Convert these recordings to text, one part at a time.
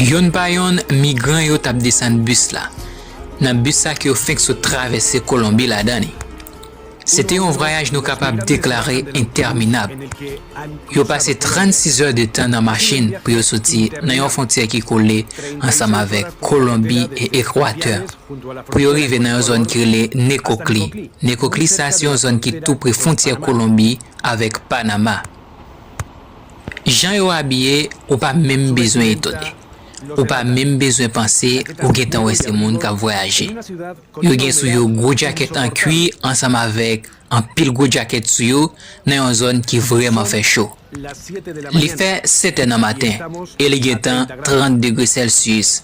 Yonn pa yonn, migran yo t ap desann bis la, nan bis sa ke yo fenk sot travèse Kolonbi ladan li. Se te yon vwayaj nou kapab deklare entèminab. Yo pase 36 è de tan nan machin pou yo soti nan yon fontyè ki kole ansanm avèk Kolonbi e Ekwatè pou yo rive nan yon zòn ki rele Nekokli. Nekokli sa se yon zòn ki tou pre fontyè Kolonbi. avèk Panama. Jan yo abiye ou pa menm bezwen etone. Ou pa menm bezwen panse ou gentan wè se moun k ap vwayaje. Yo gen sou yo gwo djakèt an kwi ansanm avèk anpil gwo djakèt sou yo nan yon zòn ki vrèman fè cho. Li fè 7 è nan maten e li gentan 30 degre sèlsiyis.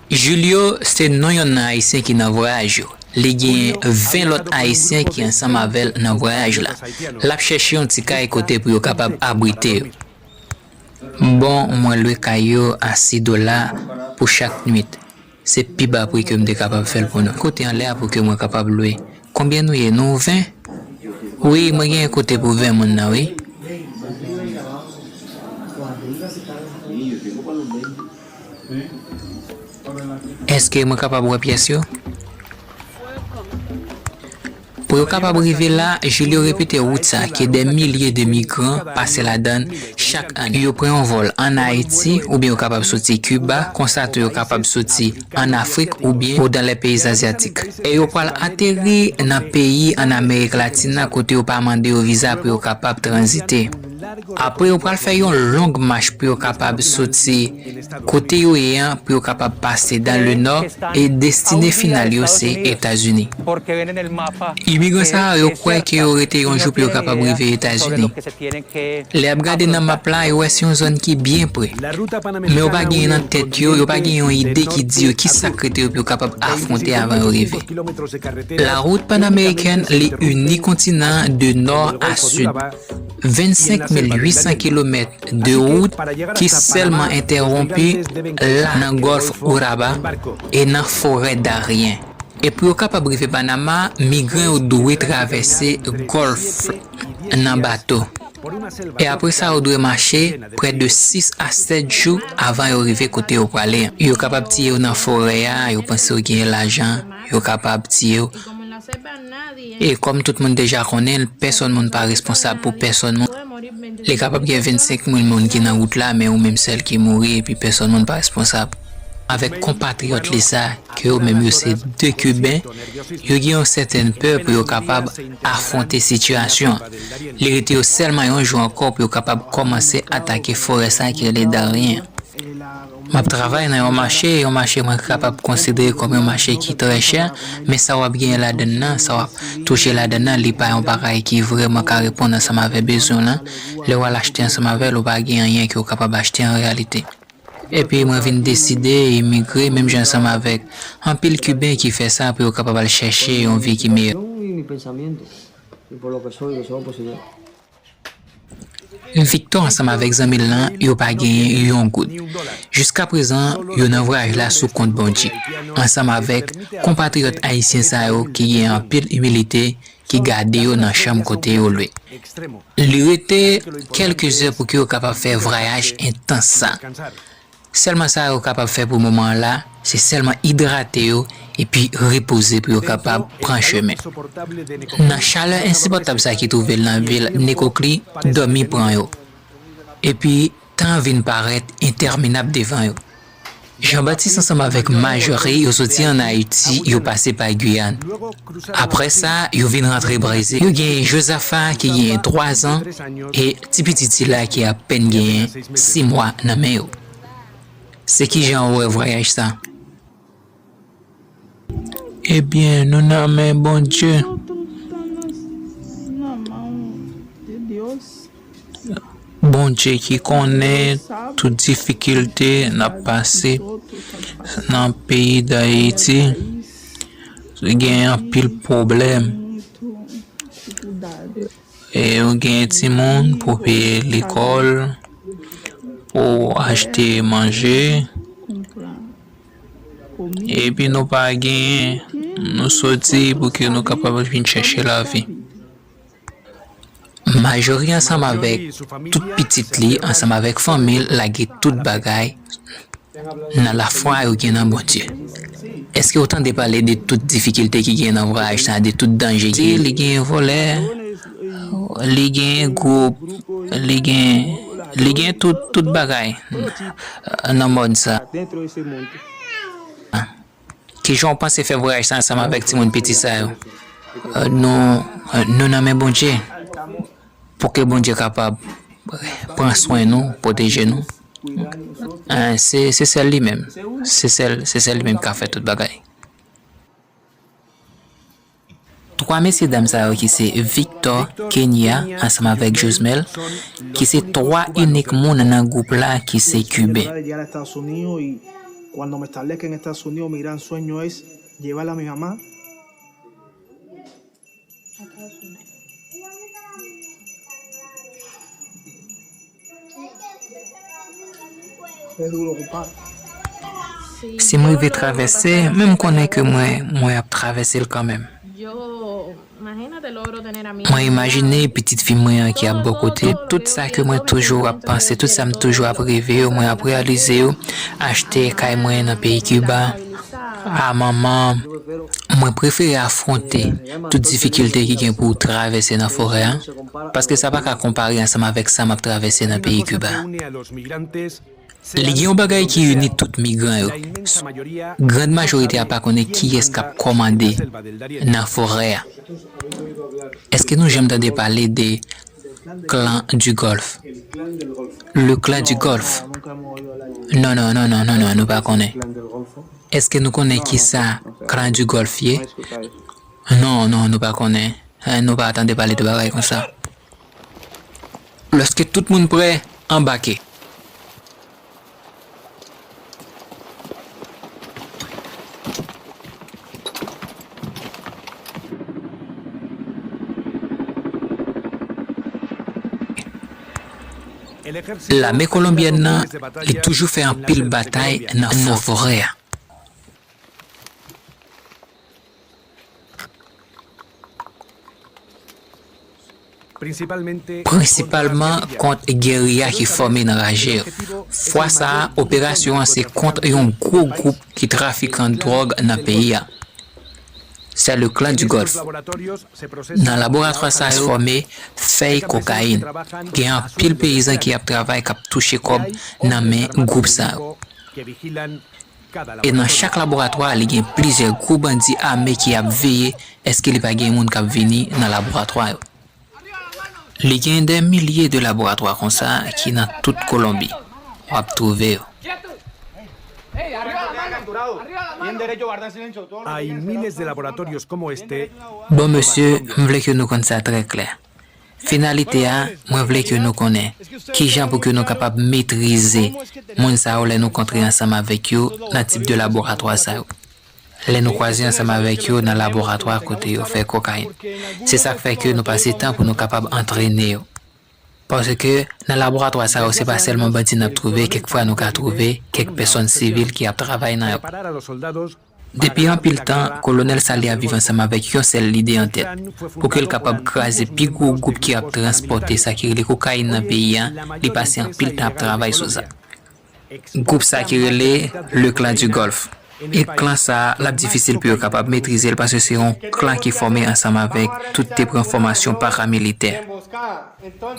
Julio se non yonn nan Ayisyen ki nan vwayaj yo. Li gen 20 lòt Ayisyen ki ansanm avè l nan vwayaj la. L ap chèche yon ti kay kote pou yo kapab abrite yo. Bon, mwen lwe kay yo a 6 dola pou chak nuit. Se pi ba pri ke m te kapab fè l pou nou. Kote anlè a pou ke mwen kapab lwe. Konbyen nou ye? Nou 20? Wi, mwen gen yon kote pou 20 moun nan wi. Èske mwen kapab wè pyès yo? Pou yo kapab rive la, Julio repete wout sa ke dè milye de migran pase ladan l chak ane. Yo pran yon vòl ann Ayiti oubyen yo kapab soti Kiba, konsa tou yo kapab soti ann Afrik oubyen o dan lè peyi azyatik. E yo pral ateri nan peyi ann Amerik Latin nan kote yo pa mande yo viza pou yo kapab tranzite. Apre yo pral fè yon long mach pou yo kapab soti kote yo ye an pou yo kapab pase dan le nò e destine final yo se Etazini. Imigran sa a yo kwè ke yo rete yon jou pou yo kapab rive Etazini. Lè yap gade nan map la yo wè se yon zòn ki byen pre. Men yo pa genyen nan tèt yo, yo pa genyen yon ide ki di yo ki sak rete yo pou yo kapab afwonte avan yo rive. La route panamericaine li ini kontinan an de nò a sid. 25 mil 800 kilomèt de wout ki sèlman entèwonpi la nan Gòlf Urabá e nan Forè Darien. E pou yo kapab rive Panama, migran yo dwe travèse Gòlf la nan bato. E apre sa yo dwe mache prè de 6 a 7 jou avan yo rive kote yo prale. Yo kapab tiye yo nan forè a, yo panse yo genyen lajan. yo kapab tiye w. E kòm tout moun deja konnen l, pèsòn moun pa responsab pou pèsòn moun. Li kapab gen 25 mil moun ki nan wout la men ou menm sèl ki mouri epi pèsòn moun pa responsab. Avèk konpatriyòt li sa, ke yo menm yo se 2 kiben, yo gen yon sèten pè pou yo kapab afwonte sitiyasyon an. Li rete yo sèlman yon jou ankò pou yo kapab kòmanse atake forè sa ki rele Darien an. M ap travay nan yon mache, yon mache mwen kapab konsidere kòm yon mache ki trè chè, men sa w ap genyen ladan l lan, sa w ap touche ladan l lan, li pa yon bagay ki vrèman ka reponn ansanm avè bezwen w lan. Lè w al achte ansanm avè l, ou pa gen anyen ke w kapab achte an reyalite. Epi mwen vin deside imigre, menm jan ansanm avèk anpil Kiben ki fè sa, pou yo kapab al chèche yon vi ki meyè. Victor ansanm avèk zanmi l lan yo pa genyen yon goud. Jiskaprezan yo nan vwayaj la sou kont Bondye, ansanm avèk konpatriyòt ayisyen sa yo ki gen anpil imilite ki gade yo nan chanm kote yo lwe. Li rete kèlke zè pou ke yo kapab fè vrayaj entans sa. Sèlman sa yo kapab fè pou moman an la, se sèlman idrate yo epi repoze pou yo kapab pran chemen. Nan chalè ensipòtab sa ki twouve l nan vil Nekokli, dòmi pran yo. Epi, tan an vin parèt entèminab devan yo. Janbatis ansanm avèk Majori yo soti an Ayiti, yo pase pa Guyane. Apre sa, yo vin rantre Brezil. Yo gen Jozafa ki genyen twazan e tipitit sila ki apèn genyen si mwa nan men yo. Se ki jan ou wè vwayaj sa a? Ebyen, nou nan men Bondye. Bondye ki konnen tout difikilte nap pase nan peyi dayiti gen anpil pwoblèm e ou gen timoun pou peye lekòl pou achte manje epi nou pa genyen nou sòti pou ke nou kapab vin chèche lavi. Majori ansanm avèk tout pitit li ansanm avèk fanmi l lage tout bagay nan lafwa yo gen nan Bondye. Èske ou tande pale de tout difikilte ki gen nan vwayaj sa a, de tout danje ki gen? Li gen vòlè, li gen gwoup, li gen, li gen tout, tout bagay nan mond sa a. Kijan w panse fè vwayaj sa ansanm avèk timoun piti sa yo? Nou nan men Bondye, pou ke Bondye kapab pran swen nou, pwoteje nou. Se sèl li menm, se sèl li menm ki ka fè tout bagay. 3 mesye dam sa yo ki se Victor, Kenya ansanm avèk Josmel ki se 3 inik moun nan gwoup la ki se Kiben. Si m rive travèse, men m konnen ke mwen, mwen ap travèse l kanmenm. Mwen imajine pitit fi mwen an ki ap bò kote l. Tout sa ke mwen toujou ap panse, tout sa m toujou ap reve yo, mwen ap reyalize yo, achte kay mwen nan peyi Kiba, a manman, mwen prefere afwonte tout difikilte ki gen pou travèse nan forè an. paske sa pa ka konpare ansanm avèk sa m ap travèse nan peyi Kiba. Li gen yon bagay ki ini tout migran yo, grand majorite a pa konnen kiyès k ap kòmande nan forè a. Èske nou janm tande pale de clan du golfe? Le clan du golfe? Non, non, non, non, non, non, nou pa konnen. Èske nou konnen kisa clan du golfe ye? Non, non, nou pa konnen. Anh nou pa tande pale de bagay konsa. Lèske tout moun prè, anbake! Lame kolonbyèn nan li toujou fè anpil batay nan forè a. Prensipalman kont geriya ki fòme nan Rajeev. Fwa sa a, operasyon an se kont yon gwo gwoup ki trafikan dwòg nan peyi a. Sè le Clan du Golfe. Nan laboratwa sa yo fòme fèy kokayin. Gen anpil peyizan ki ap travay k ap touche kòb nan men gwoup sa yo. E nan chak laboratwa li gen plizyè gwo bandi ame ki ap veye eske li pa gen moun kap vini nan laboratwa yo. Li gen dè milye de laboratwa konsa ki nan tout Kolonbi. Wap twouve yo. Hay miles de laboratorios como este. Bon mesye, m vle ke nou konn sa trè klè. Finalite a, mwen vle ke nou konnen, kijan pou ke nou kapab metrize moun sa yo lè nou kontre ansanm avèk yo nan tip de laboratwa sa yo, lè nou kwaze ansanm avèk yo nan laboratwa kote yo fè kokayin. Se sa k fè ke nou pase tan pou nou kapab antrene yo. Paske, nan laboratwa sa yo se pa sèlman bandi n ap twouve, kèk fwa nou ka twouve kèk pèsòn sivil ki ap travay nan yo. Depi anpil tan, Kolonèl Salye ap viv ansanm avèk yon sèl lide an tèt, pou ke l kapab kraze pi gwo gwoup ki ap transpòte sa ki rele kokayin nan peyi a, li pase anpil tan ap travay sou sa. Gwoup sa ki rele Le Clan du Golfe. E klan sa, l ap difisil pou yo kapab metrize l paske se yon klan ki fòme ansanm avèk tout te pran fòmasyon paramilitè.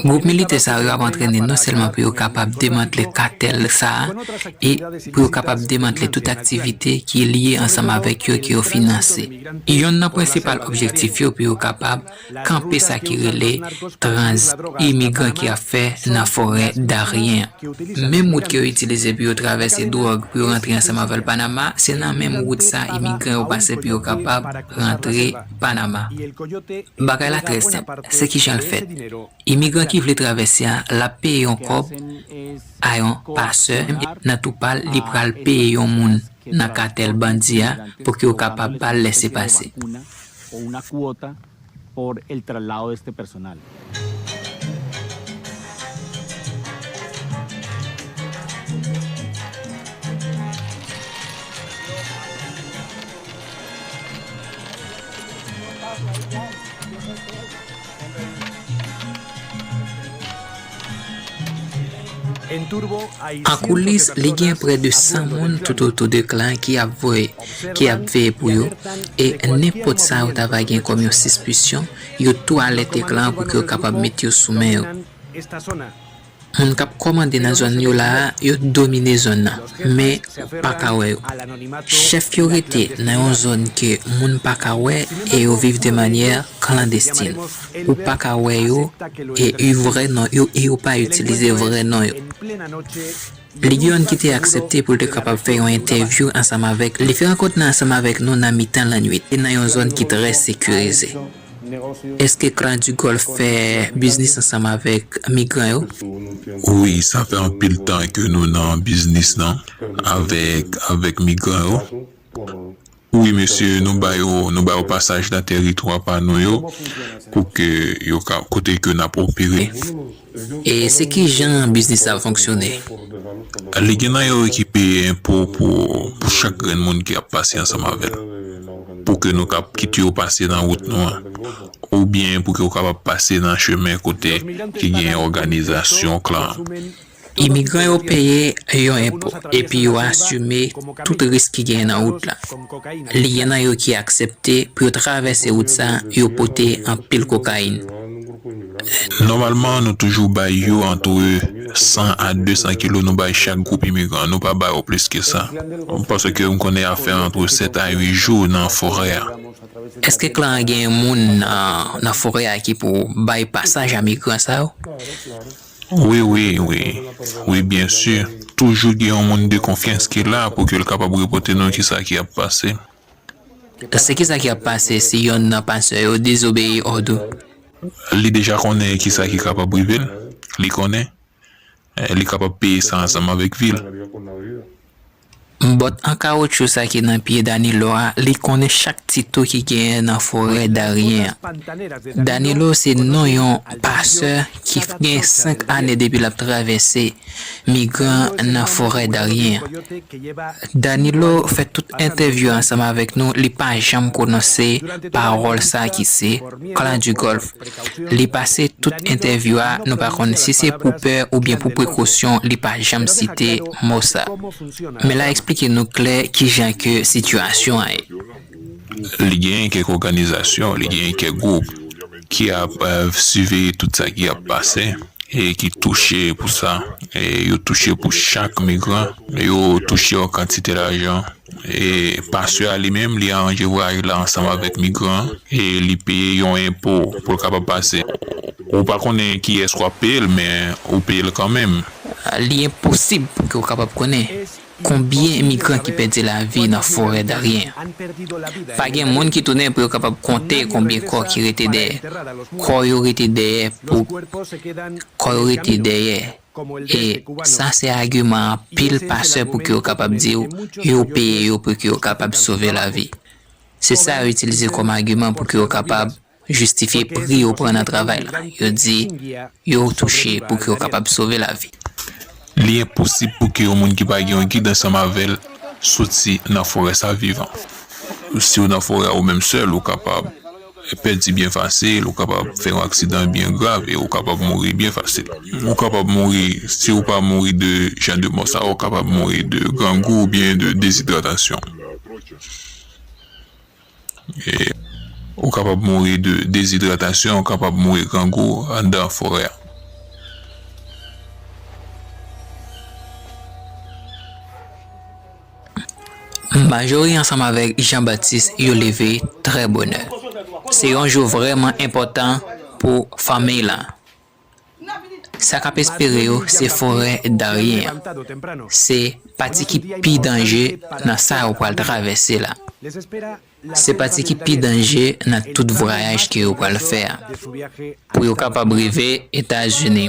Gwoup militè sa yo ap antrene non sèlman pou yo kapab demantle katèl sa a e pou yo kapab demantle tout aktivite ki lye ansanm avèk yo ke yo finanse. Yonn nan prensipal objektif yo pou yo kapab kanpe sa ki rele tranzit imigran ki ap fè nan forè Darien an. Menm wout ke yo itilize pou yo travèse dwòg pou yo rantre ansanm avèl Panama, se nan menm wout sa imigran yo pase pou yo kapab rantre. Panama. Bagay la trè senp, se kijan l fèt. Imigran ki vle travèse a, l ap peye yon kòb a yon pasè e nan tou pa l li pral peye yon moun nan katèl bandi a pou ke yo kapab ba l lèse pase. An koulis, li gen prè de 100 moun toutotou de Klan ki ap veye pou yo, e nenpòt sa yo ta va gen kòm yon sispisyon, Yo tou alète klan pou ke yo kapab met yo sou men yo. Moun kap kòmande nan zòn yo la a, yo domine zòn nan, men ou pa ka wè yo. Chèf yo rete nan yon zòn ke moun pa ka wè e yo viv de manyè klandestin. Ou pa ka wè yo e u vrè non yo e yo pa itilize vrè non yo. Ligeon ki te aksepte pou l te kapab fè yon entèvyou ansanm avèk li fè rankont nan ansanm avèk nou nan mitan lannwit e nan yon zòn ki trè sekirize. Èske Klan du Golf fè biznis ansanm avèk migran yo? Wi, sa fè anpil tan ke nou nan biznis nan avèk avèk migran yo. Wi mesye nou ba yo nou ba yo pasaj nan tèritwa pa nou yo pou ke yo ka kote ke nap opere. E se kijan biznis sa ap fonksyone? Li gen nan yo ki peye enpo pou pou chak grenn moun ki ap pase ansanm avèl pou ke nou kap kit yo pase nan wout nou an ou byen pou ke yo kapab pase nan chemen kote ki gen òganizasyon klan an. Imigran yo peye yon enpo epi yo asime tout risk ki genyen nan wout la. Li gen nan yo ki aksepte pou yo travèse wout sa yo pote anpil kokayin. Nòmalman nou toujou bay yo antre 100 a 200 kilo nou bay chak gwoup imigran, nou pa ba yo plis ke sa. Paske m konnen a fè antre 7 a 8 jou nan forè a. Eske klan an gen moun nan forè a ki pou bay pasaj a migran sa yo? Wi wi wi wi byen si toujou gen yon moun de konfyans ki la pou ke l kapab repote nou kisa ki ap pase. Pase kisa ki ap pase si yonn nan pastè yo dezobeyi òd ou? Li deja konnen kisa ki kapab rive l, li konnen li kapab peye sa ansanm avèk vi l. M bòt an kawotchou sa ki nan pye Danilo a li konnen chak ti tou ki genyen nan forè Darien an. Danilo se non yon pasè ki gen 5 ane depi l ap travèse migran nan forè Darien an. Danilo fè tout entèvyou ansanm avèk nou li pa janm pwononse pawòl sa ki se Clan du Golfe. Li pase tout entèvyou a nou pa konn si se pou pè oubyen pou prekosyon li pa janm site mo sa. Men la eksplike nou klè kijan ke sitiyasyon an ye. Li genyen kèk òganizasyon, li genyen kèk gwoup ki ap siveye tout sa ki ap pase e ki touche pou sa. Yo touche pou chak migran, yo touche yon kantite lajan. E pastè a li menm, li aranje vwayaj la ansanm avèk migran e li peye yon enpo pou l kapab pase. Ou pa konnen kiyès w ap peye l, men ou peye l kanmenm. Li enposib pou ke w kapab konnen konbyen imigran ki pèdi lavi nan forè Darien an. Pa gen moun ki tounen pou yo kapab konte konbyen kò ki rete dèyè. Kò yo rete dèyè pou kò yo rete dèyè. E sa se agiman anpil pastè pouki yo kapab di w yo peye yo pouki yo kapab sove lavi. Se sa yo itilize kòm agiman pouki yo kapab jistifye pri yo pran nan travay la. Yo di yo touche pouki yo kapab sove lavi. Li enposib pouki yon moun ki pa gen yon gid ansanm avè l soti nan forè sa vivan. Si w nan forè a ou menm sèl, ou kapab. Pèdi byen fasil, ou kapab fè yon aksidan byen grav e ou kapab mouri byen fasil. Ou kapab mouri, si ou pa mouri de jan de mò sa yo, ou kapab mouri de grangou oubyen de dezidratasyon. Ou kapab mouri de dezidratasyon, ou kapab mouri grangou anndan forè a. Majorie ansanm avèk Jean-Baptiste yo leve trè bonè. Se yon jou vrèman enpòtan pou fanmiy lan. Sa k ap espere yo se forè Darien an. Se pati ki pi danje nan sa yo pral travèse la. Se pati ki pi danje nan tout vrayaj ke yo pral fè a pou yo kapab rive Etazini.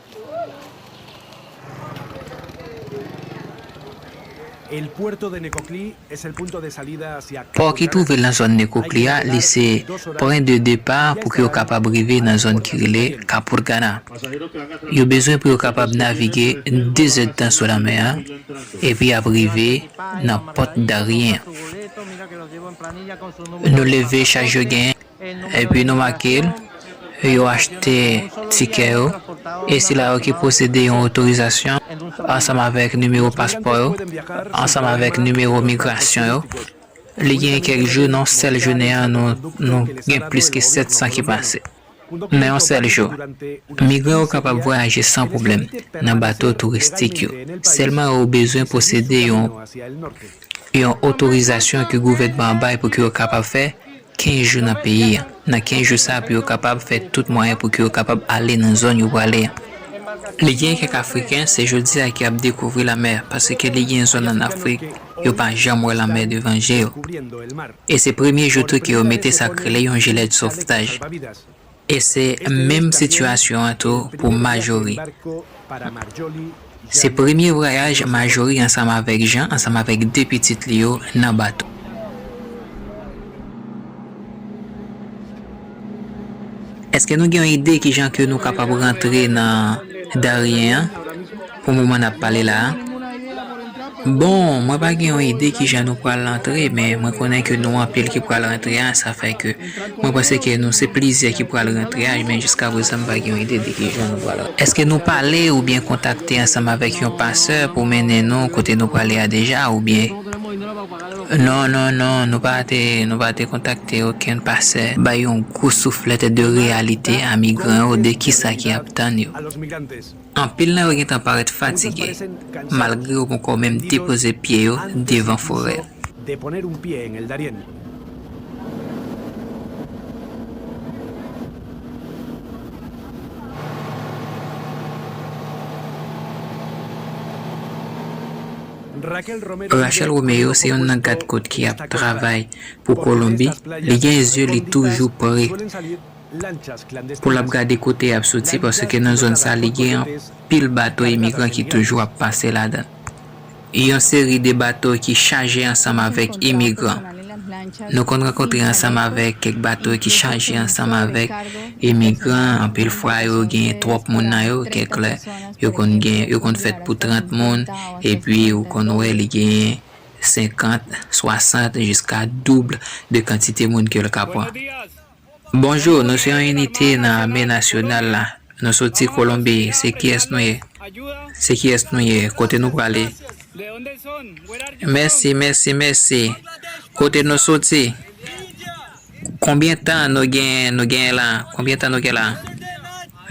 Pò ki twouve lan zòn Nekokli a, li se pwen de depa pou ke yo kapab rive nan zòn ki rele Kapurgana. Yo bezwen pou yo kapab navige 2 zèd tan sou lanmè a epi y ap rive nan Pòt Darien. Nou leve chaj yo genyen. Epi nou make l, yo achte tikè yo, e sila yo ki posede yon otorizasyon, ansanm avèk nimewo paspò yo, ansanm avèk nimewo migrasyon yo. Li gen kèk jou, nan yon sèl jounen an, nou gen plis ke 700 ki pase. Nan yon sèl jou. Migran yo kapab vwayaje san pwoblèm nan bato touristik yo, sèlman yo bezwen posede yon. Yon otorizasyon ke gouvènman an bay pou ke yo kapab fè 15 jou nan peyi an. Nan 15 jou sa a pou yo kapab fè tout mwayen pou ke yo kapab ale nan zòn yo prale an. Li gen kèk Afriken se jodi a ki ap dekouvri lanmè paske li gen zòn an Afrik yo pa janm wè lanmè devan je yo. E se premye jou tou ke yo mete sa k rele yon jilèt sovtaj. E se menm sitiyasyon an tou pou Majori. Se premye vwayaj Majori ansanm avèk Jan ansanm avèk de pitit li yo nan bato. Èske nou gen yon ide kijan ke nou kapab rantre nan Darien an? Pou moman nap pale la a, bon mwen pa gen yon ide kijan nou pral antre men mwen konnen ke nou anpil ki pral rantre a sa fè ke mwen panse ke nou se plizyè ki pral rantre a men jiska prezan m pa gen yon ide de kijan nou pral rantre. Eske nou pale oubyen kontakte ansanm avèk yon pasè pou mennen nou kote nou prale a deja oubyen Non non non nou pa te nou pa te kontakte okenn pasè. Bay yon gwo souflèt de reyalite a migran yo de kisa ki ap tann yo. Anpil nan yo gentan parèt fatige, malgre yo ponkò menm depoze pye yo devan forè a. Rachel Romeo se yonn nan gad kot ki ap travay pou Kolonbi, li gen zye li toujou pre pou l ap gade kote y ap soti paske nan zòn sa li gen anpil bato imigran ki toujou ap pase ladan l. Yon seri de bato ki chaje ansanm avèk imigran. Nou konn rankontre ansanm avèk kèk bato ki chaje ansanm avèk imigran, anpil fwa yo gen twòp moun nan yo, kèk lè yo konn gen, yo konn fèt pou 30 moun epi ou konn wè li genyen 50, 60 jiska double de kantite moun ke l ka pran. Bonjou nou se yon inite nan ame nasyonal la nou soti kolonbi se kiyès nou ye se kiyès nou ye kote nou prale mèsi mèsi mèsi kote nou soti konbyen tan nou gen nou gen la konbyen tan nou gen la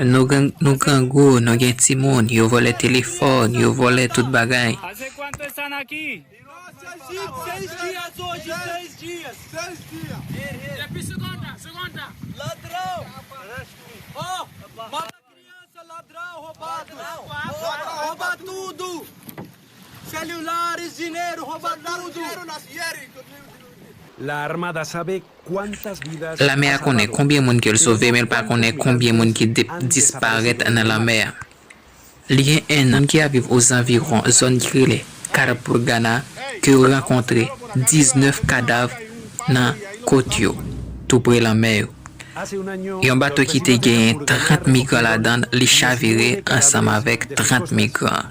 nou gen nou grangou nou gen timoun yo vòlè telefòn yo vòlè tout bagay. Lame a konnen konbyen moun ke l sove men l pa konnen konbyen moun ki disparèt nan lanmè a. Li gen 1 an ki ap viv ozanviwon zòn ki rele Karapurgana ke yo rankontre 19 kadav nan kot yo, tou pre lanmè yo. Yon bato ki te genyen 30 migran ladann li chavire ansanm avèk 30 migran.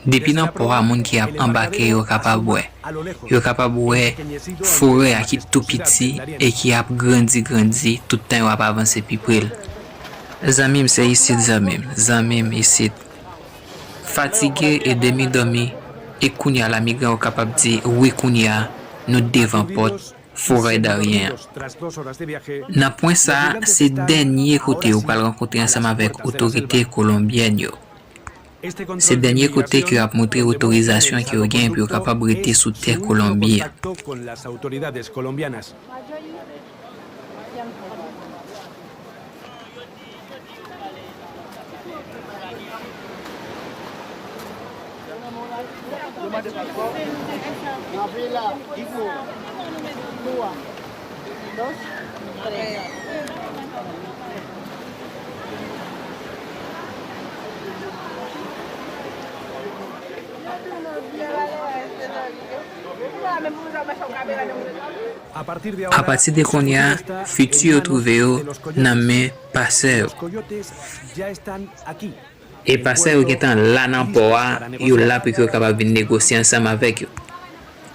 Depi nan pò a moun ki ap anbake yo kapab wè. Yo kapab wè forè a ki tou piti e ki ap grandi grandi tout tan yo ap avanse pi pre l. Zanmi m se isit zanmi m, zanmi m isit. Fatige e demi dòmi e kounye a la migran yo kapab di wi kounye a nou devan pòt Foray Darien an. Nan pwen sa a se dènye kote yo pral rankontre ansanm avèk otorite kolonbyèn yo. Se dènye kote ke yo ap montre otorizasyon ke yo genyen pou yo kapab rete sou tè Kolonbi a. Apati de kounye a, fiti yo twouve yo nan men pasè yo. Epa sa yo gentan la nan pò a yo la pou yo kapab vin negosye ansanm avèk yo.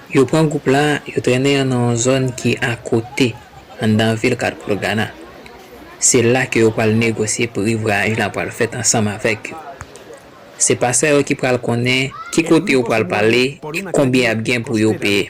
Yo pran gwoup la yo trennen yo nan yon zòn ki akote anndan vil Kadpolgana. Se la ke yo pral negosye pri vwayaj la pral fèt ansanm avèk yo. Se pasan yo ki pral konnen ki kote yo pral pale e konbyen yap gen pou yo peye.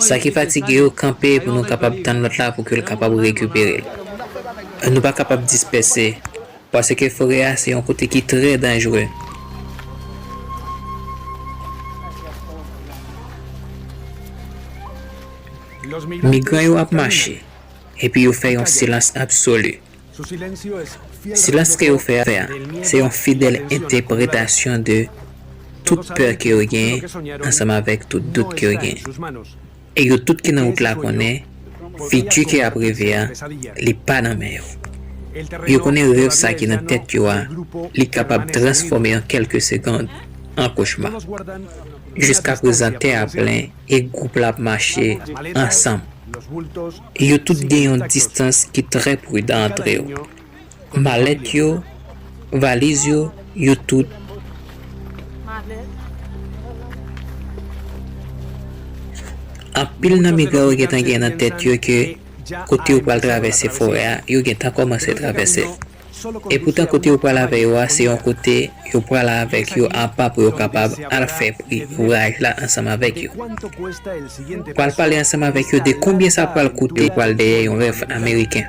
Sa ki fatige yo, kanpe pou nou kapab tann lòt la pou ke l kapab rekipere l. Nou pa kapab dispèse, paske forè a se yon kote ki trè danjre. Migran yo ap mache, epi yo fè yon silans absoli. Silans ke yo fè a, se yon fidèl entèpretasyon de tout pè ke yo genyen ansanm avèk tout dout ke yo genyen. E yo tout ki nan wout la konnen, fiti ke y'ap reve a, li pa nan men yo. Yo konnen rèv sa ki nan tèt yo a, li kapab transfòme an kèlke segond an kochma. Jiskaprezan tè a plen e gwoup la ap mache ansanm. Yo tout gen yon distans ki trè prudan antre yo. Malèt yo, valiz yo, yo tout. Anpil nan migran yo gentan gen nan tèt yo ke kote yo pral travèse forè a, yo gentan kòmanse travèse l. Epoutan kote yo pral avè yo a se yon kote yo pral avèk yo apa pou yo kapab al fè pri vwayaj la ansanm avèk yo. Pral pale ansanm avèk yo de konbyen sa pral koute yo pral dèyè yon rèv ameriken.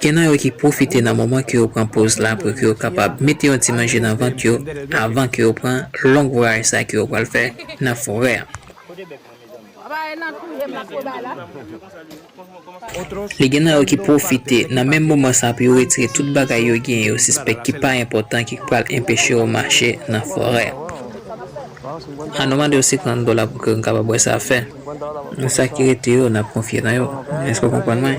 Gen nan yo ki pwofite nan moman ke yo pran poz la pou ke yo kapab mete yon ti manje nan vant yo avan ke yo pran long vwayaj sa ke yo pral fè nan forè an. Li gen nan yo ki pwofite nan menm moman sa pou yo retire tout bagay yo genyen yo sispèk ki pa enpòtan ki k pral enpeche yo mache nan forè an. An nou mande yo 50 dola pou ke nou kapab wè sa fè. Nou sa ki rete yo, n ap konfye nan yo. Èske w konprann mwen?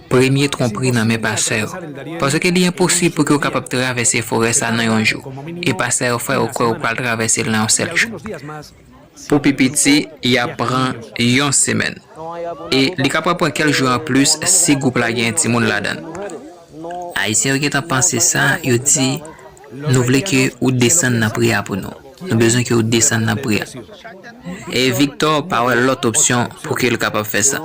Premye twonpri nan men pastè yo. Paske li enposib pou ke ou kapab travèse forè sa nan yon jou. E pastè yo fè ou kwè ou pral travèse l nan yon sèl jou. Pou pi piti, y ap pran yon semèn. E li kapab pran kèlk jou anplis si gwoup la genyen timoun ladan l. Ayisyen yo gentan panse sa, yo di. Nou vle ke ou desann nan pri a pou nou. Nou bezwen ke ou desann nan pri a. E Viktò pa wè lòt opsyon pou ke l kapab fè sa.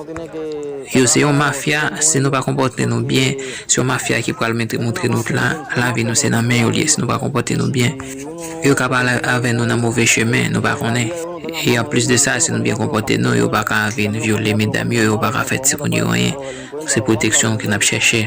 Yo se yon mafya, si nou pa konpòte nou byen, se yon mafya ki pral mete montre nou la, lavi nou se nan men yo l ye, si nou pa konpòte nou byen. Yo ka pale avè nou nan move chemen, nou pa konnen. E anplis de sa, si nou byen konpòte nou, yo pa ka vin vyole medam yo, yo pa ka fè timoun yo anyen. Se pwoteksyon ke n ap chèche.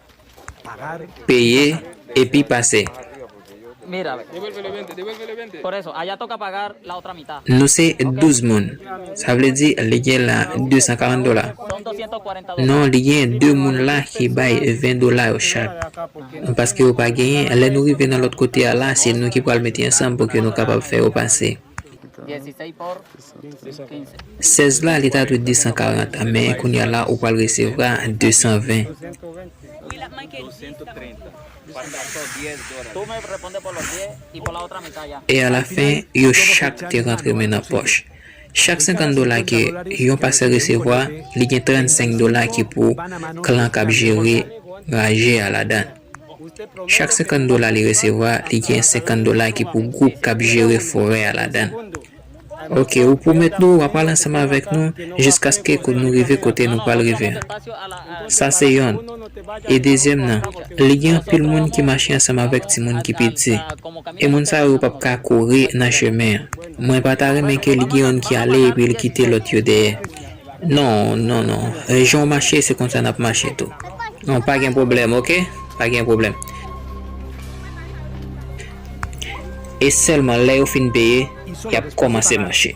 Peye epi pase. Nou se 12 moun. Sa vle di li gen la 240 dola. Non li gen 2 moun la ki bay 20 dola yo chak. Paske yo pa genyen, lè nou rive nan lòt kote a la se nou ki pral mete ansanm pou ke nou kapab fè yo pase. 16 la li ta dwe 240 men kounya la ou pral resevra 220 e alafen yo chak te rantre men nan pòch chak 50 dola ke yon pasè resevwa li gen 35 dola ki pou klan kap jere raje a ladan. Chak 50 dola li resevwa, li gen 50 dola ki pou gwoup k ap jere forè a ladan l. Ok, ou pwomèt nou w a pral ansanm avèk nou jiskaske nou rive kote nou pral rive an. Sa se yonn. E dezyèm nan, li gen anpil moun ki mache ansanm avèk timoun ki piti. E moun sa yo p ap ka kouri nan chemen an. Mwen pa ta renmen ke li gen yonn ki ale epi li kite lòt yo dèyè. Non non non jan w mache se konsa nap mache tou non pa gen pwoblèm ok pa gen pwoblèm e sèlman lè yo fin peye yap kòmanse mache.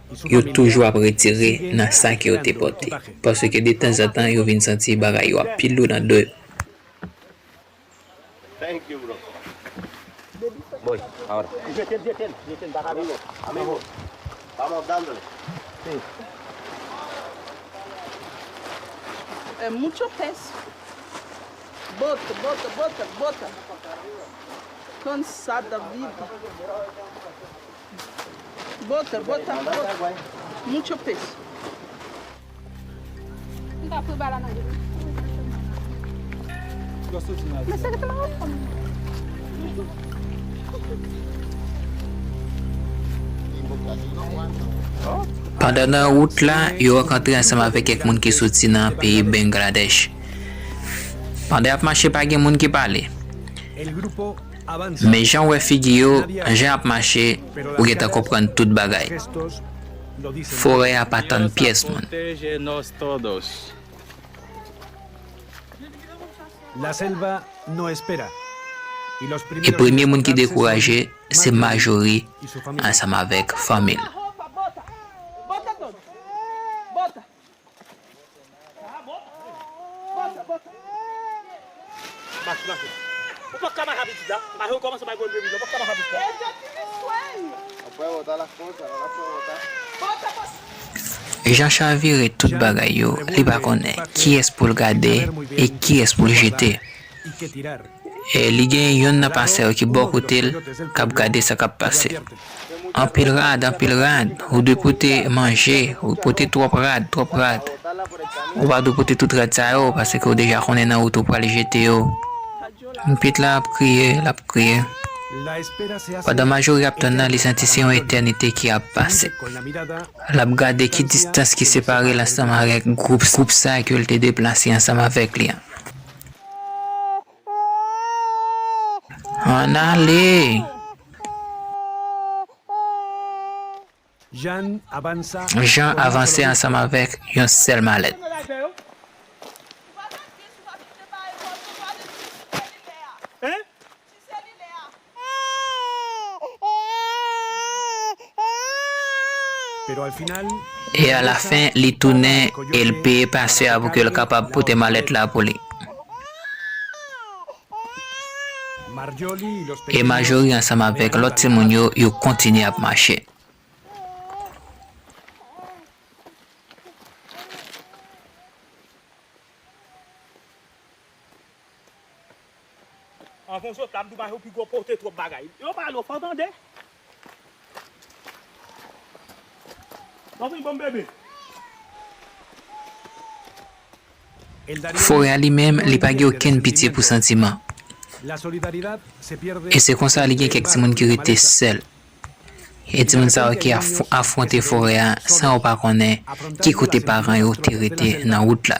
Yo toujou ap retire nan sa ke yo te pòte. Paske de tanzantan yo vin santi bagay yo ap pi lou nan do yo. Bota, bota, bota. Mucho peso. M ta pran bala nan men. Yo soti nan Men seke te ma wap pran. Pandan nan wout la, yo rankontre ansanm avèk kèk moun ki soti nan peyi Bengladèch. Pandan y ap mache pa gen moun ki pale. Men jan w wè figi yo, jan y ap mache, ou gentan konprann tout bagay. Forè a pa tann pyès moun. E premye moun ki dekouraje, se Majori ansanm avèk fanmi l. Jean chavire tout bagay yo li pa konnen kiyès poul gade e kiyès poul jete. Li gen yonn nan pasè yo ki bò kote l k ap gade sa k ap pase. Anpil rad, anpil rad. Ou dwe pote manje, ou pote twòp rad, twòp rad. Ou pa dwe pote tout rad sa yo paske ou deja konnen nan wout ou pral jete yo. Mpit la ap kriye, l ap kriye. Pandan Majori ap tann nan, li santi se yon etènite ki ap pase. L ap gade ki distans ki separe l ansanm avèk gwoup sa ke l te deplase ansanm avèk li an. Ann ale! Jan avanse ansanm avèk yon sèl malèt. Ti zeli lè a. E alafen li tounen e l peye pastè a pou ke l kapab pote malèt la pou li. E Majori ansanm avèk lòt timoun yo, yo kontinye ap mache. Anvan zot la m tou ba yo pi gwo pote twòp bagay. Yo pa lo fò tande. Anfen banm bebe. Forè a li menm li pa gen okenn pitye pou santiman. E se konsa li gen kèk timoun ki rete sèl. E timoun sa yo ki afwonte forè a san yo pa konnen ki kote paran yo te rete nan wout la.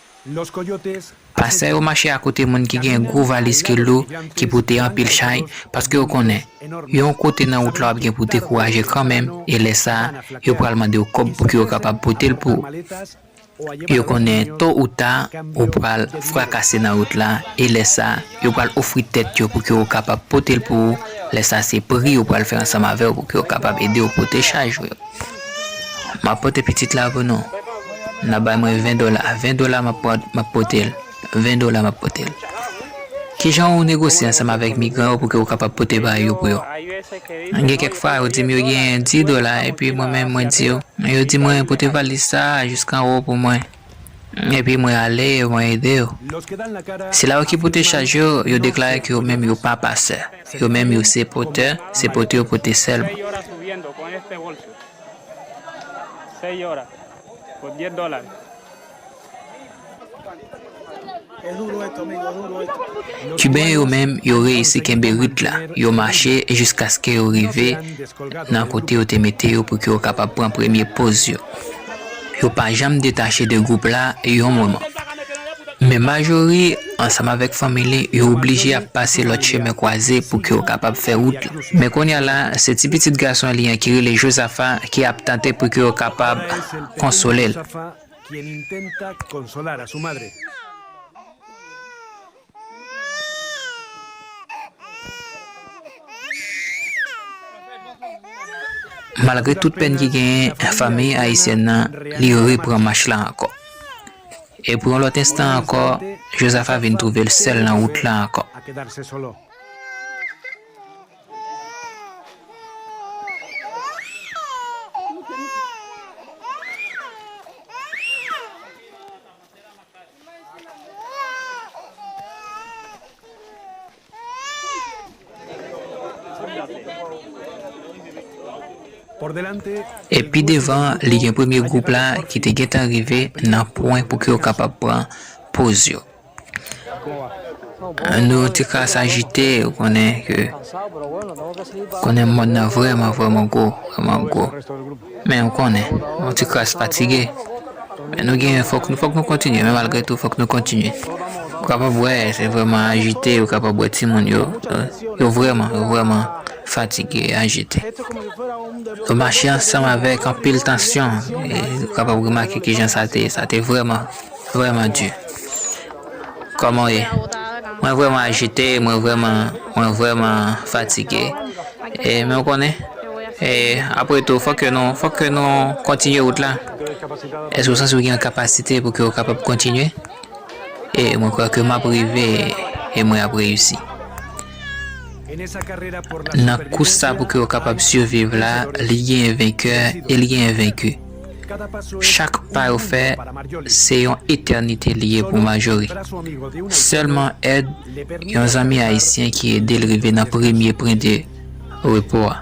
Los Coyotes Pasè yo mache akote moun ki gen gwo valiz ki lou, ki pote anpil chay, paske yo konnen, yo yon kote nan wout la wap gen pou w dekouraje kanmenm e lè sa a, yo pral mande w kòb pouki yo kapab pote l pou ou. Yo konnen to ou ta, ou pral frakase nan wout la e lè sa a, yo pral ofri tèt yo pouki yo kapab pote l pou ou, lè sa a se pri yo pral fè ansanm avè w pouki yo kapab ede w pote chaj ou yo. M ap pote pitit la pou nou. N ap bay mwen ven dola. Ven dola m ap pote l. Ven dola m ap pote l. Ki jan ou negosye ansanm avèk migran yo pou ke ou kapab pote bay yo pou yo? Gen kèk fwa yo di m yo genyen di dola epi mwen menm mwen di yo. Yo di mwen pote valiz sa a jisk anwo pou mwen. Epi mwen ale e mwen ede yo. Sila yo ki pote chaj yo, yo deklare ke yo menm yo pa pasè. Yo menm yo se potè, se pote yo pote sèlman. Kiben yo menm yo reyisi kenbe rit la, yo mache jiskaske yo rive nan kote yo te mete yo pou ke yo kapab pran premye poz yo. Yo pa janm detache de gwoup la yon moman. Men Majori ansanm avèk fanmi li yo oblije ap pase lòt chemen kwaze pou ke yo kapab fè wout la. Men kounya la se ti pitit gason li an ki rele Jozafa ki ap tante pou ke yo kapab konsole l. quien intenta consolar a su madre. Malgre tout pèn ki genyen, fanmi ayisyèn nan li repran mach la ankò. E pou yon lòt enstan ankò, Jozafa vin twouve l sèl nan wout la ankò. E pi devan li gen premye gwoup la ki te gentan rive nan pwen pou ke yo kapab pran poz yo. Nou te ka sajite ou konnen ke konnen mond nan vrèman vrèman gwo, vrèman gwo. Men ou konnen, yon ti kras fatige. Men nou gen fòk nou fòk nou kontinye men malgre tou fòk nou kontinye. Ou kapab wè se vrèman ajite, ou kapab wè timoun yo yo vrèman yo vrèman fatige, ajite. Yo mache ansanm avèk anpil tansyon e ou kapab remake kijan sa te sa te vrèman. Vrèman di. Kòman w ye? Mwen vrèman ajite, mwen vrèman, mwen vrèman fatige. E, men ou konnen? E, apre tou, fòk ke nou, fòk ke nou kontinye wout la. Èske ou santi ou gen yon kapasite pou ke ou kapab kontinye? E, mwen kwè ke m ap rive e mwen ap reyisi. Nan kous sa pou ke ou kapab siviv la, li genyen venkè e li genyen venki. Chak pa yo fè, se yon etènite li ye pou Majori. Sèlman èd yon zanmi ayisyen ki ede l rive nan premye pwen de repo a.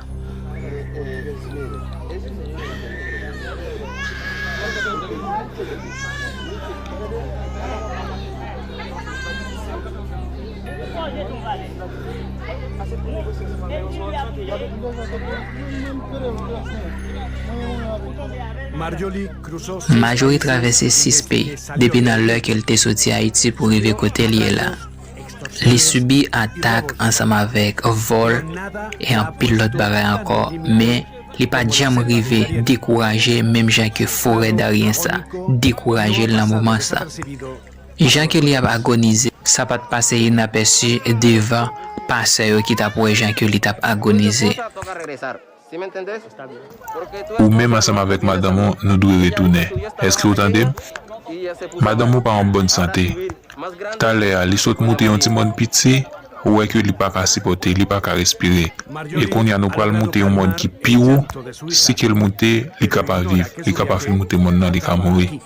Marjorie travèse 6 peyi depi nan lè ke l te soti Ayiti pou rive kote l ye la. Li sibi atak ansanm avèk vòl e anpil lòt bagay ankò men li pa t janm rive dekouraje menm jan ke forè daryen sa dekouraje l nan moman sa. Jan Kelly ap agonize. Sa pat pase inapèsi devan pasè yo ki tap wè jan Kelly tap agonize. Ou menm ansanm avèk madanm ou, nou dwe retounen. Èske ou tande m? Madanm ou pa an bòn sante. Talè a, li sot moute yon ti mòn piti, ou wè ke li pa ka sipòte, li pa ka respire. E kounye a nou pral moute yon mòn ki pi wo, si ke l moute, li ka pa viv, li ka pa fin moute mòn nan, li ka mouri.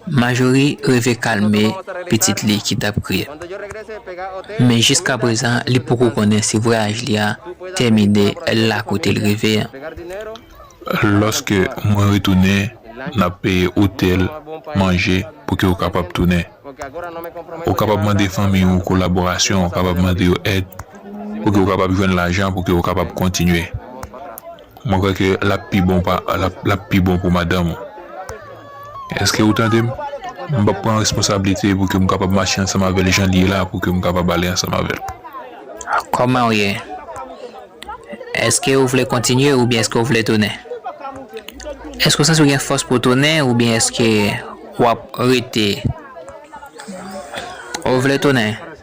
Majori reve kalme pitit li ki tap kriye, men jiska prezan li poko konnen si vwayaj li a tèmine la kote l rive an. Lòske mwen retounen, n ap peye otèl, manje, pou ke ou kapab tounen. Ou kapab mande fanmi ou kolaborasyon, ou kapab mande yo èd pou ke ou kapab jwenn lajan pou ke ou kapab kontinye. Mwen kwè ke lap pi bon pa lap pi bon pou madanm ou. Eske ou tande m? M pap pran responsablite pou ke m kapab mache ansanm avè l jan li ye la pou ke m kapab ale ansanm avè l. Kòman ou ye? Eske ou vle kontinye oubyen eske ou vle tounen? Eske ou santi ou gen fòs pou w tounen oubyen eske wap rete? Ou vle tounen?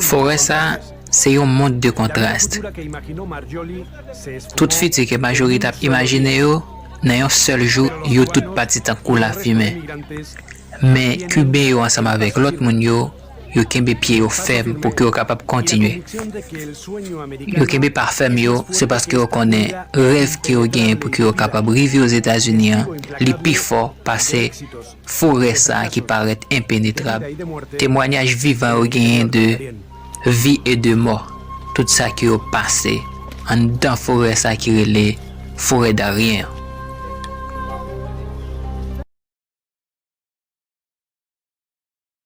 Forè sa a se yon mond de kontrast. Tout fiti ke Marjorie tap imajine yo, nan yon sèl jou yo tout pati tankou lafimen. Men Kiben yo ansanm avèk lòt moun yo, yo kenbe pye yo fèm pou ke yo kapab kontinye. Yo kenbe pa fèm yo, se paske yo konnen rèv ke yo genyen pou ke yo kapab rive Ozetazini an, li pi fò pase forè sa a ki parèt enpenetrab. Temwanyaj vivan yo genyen de vi e de mò, tout sa ke yo pase anndan forè sa ki rele Forè Darien an.